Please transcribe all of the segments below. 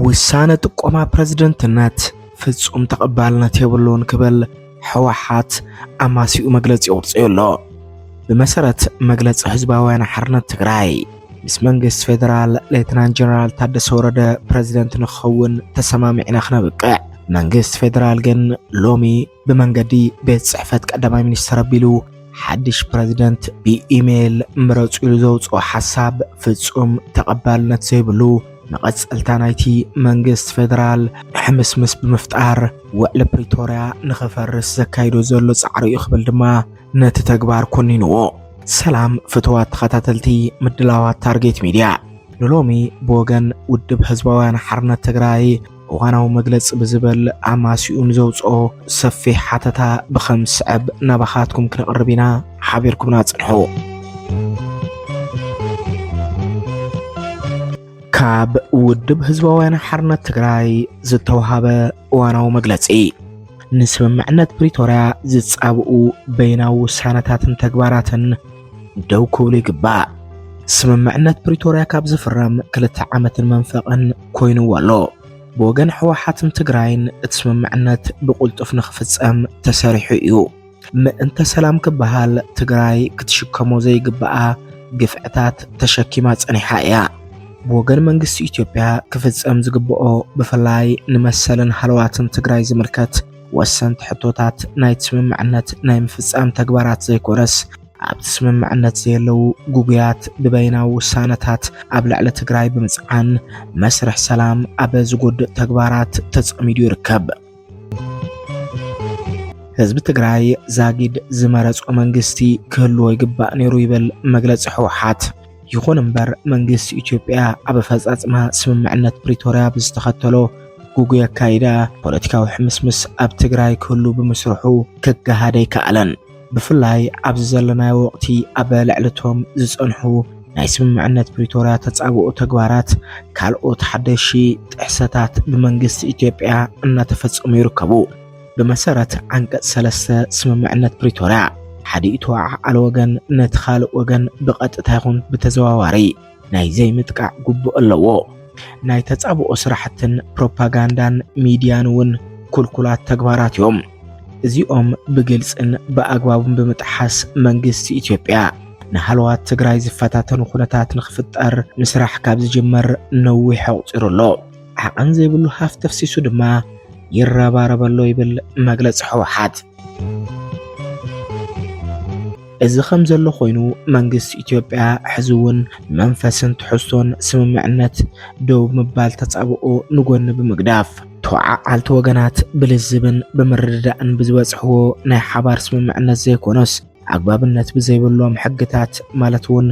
ውሳነ ጥቆማ ፕረዝደንትነት ፍጹም ተቐባልነት የብሉን ክብል ሕወሓት ኣማሲኡ መግለጺ ኣውፅኡ ኣሎ። ብመሰረት መግለፂ ህዝባውያን ሓርነት ትግራይ ምስ መንግስቲ ፌደራል ሌትናንት ጀነራል ታደሰ ወረደ ፕረዚደንት ንክኸውን ተሰማሚዕና ክነብቅዕ መንግስቲ ፌደራል ግን ሎሚ ብመንገዲ ቤት ጽሕፈት ቀዳማይ ሚኒስትር ኣቢሉ ሓድሽ ፕረዚደንት ብኢሜይል ምረጹ ኢሉ ዘውፅኦ ሓሳብ ፍጹም ተቐባልነት ዘይብሉ መቐጸልታ ናይቲ መንግስት ፌደራል ሕምስምስ ብምፍጣር ውዕሊ ፕሪቶርያ ንኽፈርስ ዘካይዶ ዘሎ ጻዕሪ እዩ ክብል ድማ ነቲ ተግባር ኮኒንዎ። ሰላም ፍትዋት ተኸታተልቲ ምድላዋት ታርጌት ሚድያ ንሎሚ ብወገን ውድብ ህዝባውያን ሓርነት ትግራይ እዋናዊ መግለጺ ብዝበል ኣማሲኡ ንዘውጽኦ ሰፊሕ ሓተታ ብኸም ዝስዕብ ናባኻትኩም ክነቕርብ ኢና። ሓቢርኩምና ጽንሑ። ካብ ውድብ ህዝባውያን ሓርነት ትግራይ ዝተውሃበ እዋናዊ መግለጺ ንስምምዕነት ፕሪቶርያ ዝጻብኡ በይናዊ ውሳነታትን ተግባራትን ደው ክብሉ ይግባእ። ስምምዕነት ፕሪቶርያ ካብ ዝፍረም ክልተ ዓመትን መንፈቕን ኮይንዎ ኣሎ። ብወገን ሕወሓትን ትግራይን እቲ ስምምዕነት ብቕልጡፍ ንኽፍጸም ተሰሪሑ እዩ። ምእንተ ሰላም ክበሃል ትግራይ ክትሽከሞ ዘይግብኣ ግፍዕታት ተሸኪማ ጸኒሓ እያ። ብወገን መንግስቲ ኢትዮጵያ ክፍጸም ዝግብኦ ብፍላይ ንመሰልን ሃለዋትን ትግራይ ዝምልከት ወሰንቲ ሕቶታት ናይቲ ስምምዕነት ናይ ምፍጻም ተግባራት ዘይኮነስ ኣብቲ ስምምዕነት ዘየለዉ ጉጉያት ብበይናዊ ውሳነታት ኣብ ልዕሊ ትግራይ ብምፅዓን መስርሕ ሰላም ኣብ ዝጎድእ ተግባራት ተጸሚዱ ይርከብ። ህዝቢ ትግራይ ዛጊድ ዝመረጾ መንግስቲ ክህልዎ ይግባእ ነይሩ ይብል መግለፂ ህወሓት። ይኹን እምበር መንግስቲ ኢትዮጵያ ኣብ ኣፈጻጽማ ስምምዕነት ፕሪቶርያ ብዝተኸተሎ ጉጉይ ኣካይዳ ፖለቲካዊ ሕምስምስ ኣብ ትግራይ ክህሉ ብምስርሑ ክገሃድ ኣይከኣለን። ብፍላይ ኣብዚ ዘለናዮ ወቕቲ ኣብ ልዕሊ እቶም ዝጸንሑ ናይ ስምምዕነት ፕሪቶርያ ተጻብኦ ተግባራት ካልኦት ሓደሺ ጥሕሰታት ብመንግስቲ ኢትዮጵያ እናተፈጸሙ ይርከቡ። ብመሰረት ዓንቀጽ ሰለስተ ስምምዕነት ፕሪቶርያ ሓደ ተወዓዓሊ ወገን ነቲ ካልእ ወገን ብቐጥታ ይኹን ብተዘዋዋሪ ናይ ዘይምጥቃዕ ግቡእ ኣለዎ። ናይ ተጻብኦ ስራሕትን ፕሮፓጋንዳን ሚድያን እውን ኩልኩላት ተግባራት እዮም። እዚኦም ብግልጽን ብኣግባቡን ብምጥሓስ መንግስቲ ኢትዮጵያ ንሃለዋት ትግራይ ዝፈታተኑ ኩነታት ንክፍጠር ምስራሕ ካብ ዝጅመር ነዊሕ ኣቑፂሩ ኣሎ። ዓቐን ዘይብሉ ሃፍቲ ኣፍሲሱ ድማ ይረባረብ ኣሎ ይብል መግለፂ ህወሓት። እዚ ከም ዘሎ ኮይኑ መንግስቲ ኢትዮጵያ ሕዚ እውን መንፈስን ትሕዝቶን ስምምዕነት ደው ምባል ተጻብኦ ንጎኒ ብምግዳፍ ተወዓዓልቲ ወገናት ብልዝብን ብምርድዳእን ብዝበጽሕዎ ናይ ሓባር ስምምዕነት ዘይኮነስ ኣግባብነት ብዘይብሎም ሕግታት ማለት እውን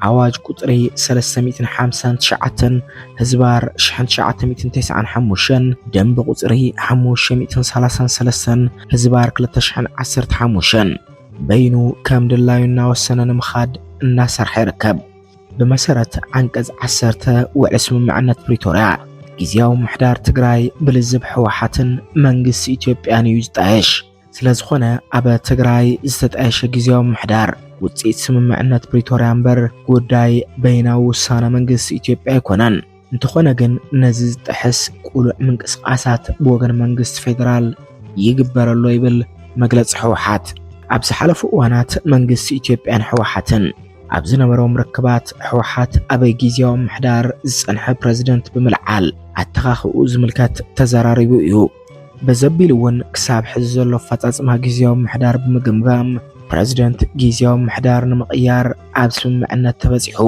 ኣዋጅ ቁፅሪ 359 ህዝባር 1995 ደንብ ቁፅሪ 533 ህዝባር 2015 በይኑ ከም ድላዩ እናወሰነ ንምኻድ እናሰርሐ ይርከብ። ብመሰረት ዓንቀጽ 10 ውዕሊ ስምምዕነት ፕሪቶርያ ጊዜያዊ ምሕዳር ትግራይ ብልዝብ ህወሓትን መንግስቲ ኢትዮጵያን እዩ ዝጣየሽ። ስለዝኾነ ኣብ ትግራይ ዝተጣየሸ ግዜያዊ ምሕዳር ውፅኢት ስምምዕነት ፕሪቶርያ እምበር ጉዳይ በይናዊ ውሳነ መንግስቲ ኢትዮጵያ ኣይኮነን። እንተኾነ ግን ነዚ ዝጥሕስ ቁሉዕ ምንቅስቓሳት ብወገን መንግስቲ ፌዴራል ይግበረሎ ይብል መግለፂ ህወሓት። ኣብ ዝሓለፉ እዋናት መንግስቲ ኢትዮጵያን ህወሓትን ኣብ ዝነበሮም ርክባት ህወሓት ኣብ ግዜያዊ ምሕዳር ዝፀንሐ ፕረዚደንት ብምልዓል ኣተኻኽኡ ዝምልከት ተዘራሪቡ እዩ። በዘቢሉ'ውን ክሳብ ሕዚ ዘሎ ኣፈፃፅማ ጊዚያዊ ምምሕዳር ብምግምጋም ፕረዚደንት ጊዚያዊ ምምሕዳር ንምቕያር ኣብ ስምምዕነት ተበፂሑ።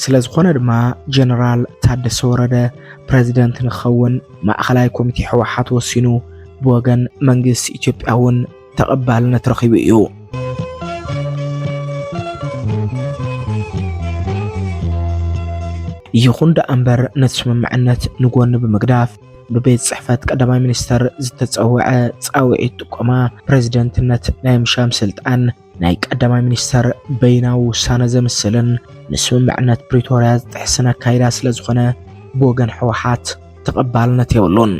ስለዝኾነ ድማ ጀነራል ታደሰ ወረደ ፕረዚደንት ንክኸውን ማእኸላይ ኮሚቴ ህወሓት ወሲኑ ብወገን መንግስቲ ኢትዮጵያ እውን ተቐባልነት ረኺቡ እዩ። ይኹን ደኣ እምበር ነቲ ስምምዕነት ንጎኒ ብምግዳፍ ብቤት ጽሕፈት ቀዳማይ ሚኒስተር ዝተጸውዐ ጻውዒት ጥቆማ ፕረዚደንትነት ናይ ምሻም ስልጣን ናይ ቀዳማይ ሚኒስተር በይናዊ ውሳነ ዘምስልን ንስምምዕነት ፕሪቶርያ ዝጥሕስን ኣካይዳ ስለ ዝኾነ ብወገን ሕወሓት ተቐባልነት የብሉን።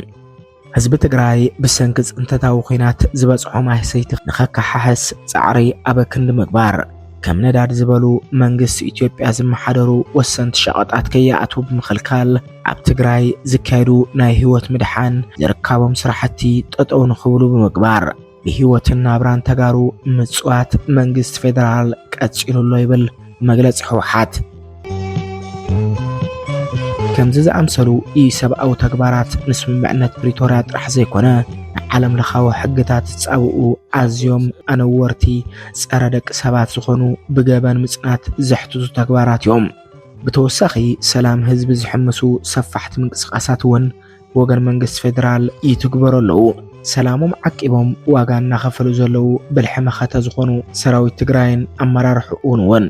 ህዝቢ ትግራይ ብሰንኪ ፅንተታዊ ኲናት ዝበፅሖ ማህሰይቲ ንኸከሓሕስ ፃዕሪ ኣብ ክንዲ ምግባር ከም ነዳድ ዝበሉ መንግስቲ ኢትዮጵያ ዝመሓደሩ ወሰንቲ ሸቐጣት ከይኣትዉ ብምኽልካል ኣብ ትግራይ ዝካየዱ ናይ ህይወት ምድሓን ዝርካቦም ስራሕቲ ጠጠው ንኽብሉ ብምግባር ብህይወትን ናብራን ተጋሩ ምፅዋት መንግስቲ ፌዴራል ቀፂሉ ኣሎ ይብል መግለፂ ህወሓት። ከምዚ ዝኣምሰሉ ኢሰብኣዊ ተግባራት ንስምምዕነት ፕሪቶርያ ጥራሕ ዘይኮነ ንዓለም ለኻዊ ሕግታት ዝፃብኡ ኣዝዮም ኣነወርቲ ፀረ ደቂ ሰባት ዝኾኑ ብገበን ምፅናት ዘሕትቱ ተግባራት እዮም። ብተወሳኺ ሰላም ህዝቢ ዝሕምሱ ሰፋሕቲ ምንቅስቓሳት እውን ብወገን መንግስቲ ፌዴራል ይትግበሩ ኣለዉ። ሰላሞም ዓቂቦም ዋጋ እናኸፈሉ ዘለዉ ብልሒ መኸተ ዝኾኑ ሰራዊት ትግራይን ኣመራርሕኡን እውን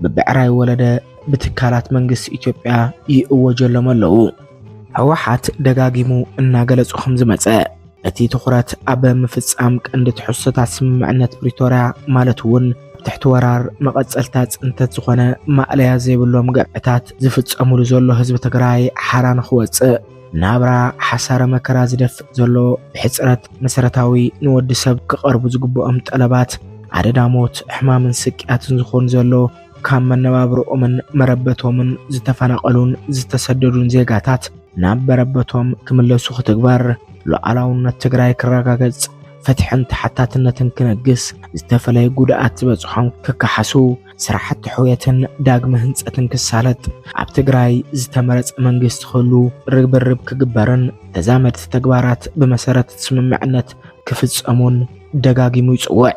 ብብዕራይ ወለደ ብትካላት መንግስቲ ኢትዮጵያ ይእወጀሎም ኣለዉ። ህወሓት ደጋጊሙ እናገለጹ ከም ዝመጸ እቲ ትኹረት ኣብ ምፍጻም ቀንዲ ትሕዝቶታት ስምምዕነት ፕሪቶርያ ማለት እውን ኣብ ትሕቲ ወራር መቐጸልታ ጽንተት ዝኾነ ማእለያ ዘይብሎም ገበታት ዝፍጸሙሉ ዘሎ ህዝቢ ትግራይ ሓራ ንክወጽእ ናብራ ሓሳረ መከራ ዝደፍእ ዘሎ ብሕፅረት መሰረታዊ ንወዲ ሰብ ክቐርቡ ዝግብኦም ጠለባት ኣደዳ ሞት፣ ሕማምን ስቅያትን ዝኾኑ ዘሎ ካብ መነባብሮኦምን መረበቶምን ዝተፈናቐሉን ዝተሰደዱን ዜጋታት ናብ መረበቶም ክምለሱ ክትግበር፣ ሉዓላውነት ትግራይ ክረጋገፅ፣ ፍትሕን ተሓታትነትን ክነግስ፣ ዝተፈለየ ጉድኣት ዝበፅሖም ክከሓሱ፣ ስራሕቲ ሕውየትን ዳግመ ህንፀትን ክሳለጥ ኣብ ትግራይ ዝተመረፀ መንግስቲ ክህሉ ርብርብ ክግበርን ተዛመድቲ ተግባራት ብመሰረት ስምምዕነት ክፍፀሙን ደጋጊሙ ይፅውዕ።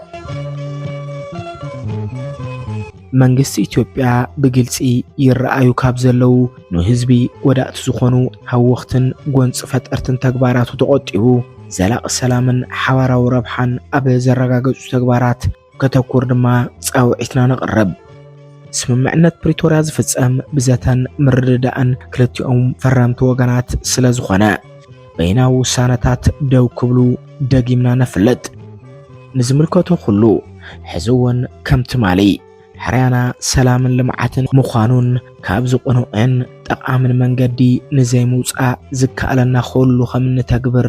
መንግስቲ ኢትዮጵያ ብግልፂ ይረኣዩ ካብ ዘለው ንህዝቢ ጎዳእቲ ዝኾኑ ሃወኽትን ጎንፂ ፈጠርትን ተግባራቱ ተቖጢቡ ዘላቒ ሰላምን ሓባራዊ ረብሓን ኣብ ዘረጋገፁ ተግባራት ከተኩር ድማ ጻውዒትና ነቕርብ። ስምምዕነት ፕሪቶርያ ዝፍጸም ብዘተን ምርድዳእን ክልቲኦም ፈረምቲ ወገናት ስለ ዝኾነ በይናዊ ውሳነታት ደው ክብሉ ደጊምና ነፍልጥ። ንዝምልከቶ ኩሉ ሕዚ እውን ከም ትማሊ ሕርያና ሰላምን ልምዓትን ምዃኑን ካብዚ ቅኑዕን ጠቓምን መንገዲ ንዘይምውጻእ ዝከኣለና ኩሉ ከም እንተግብር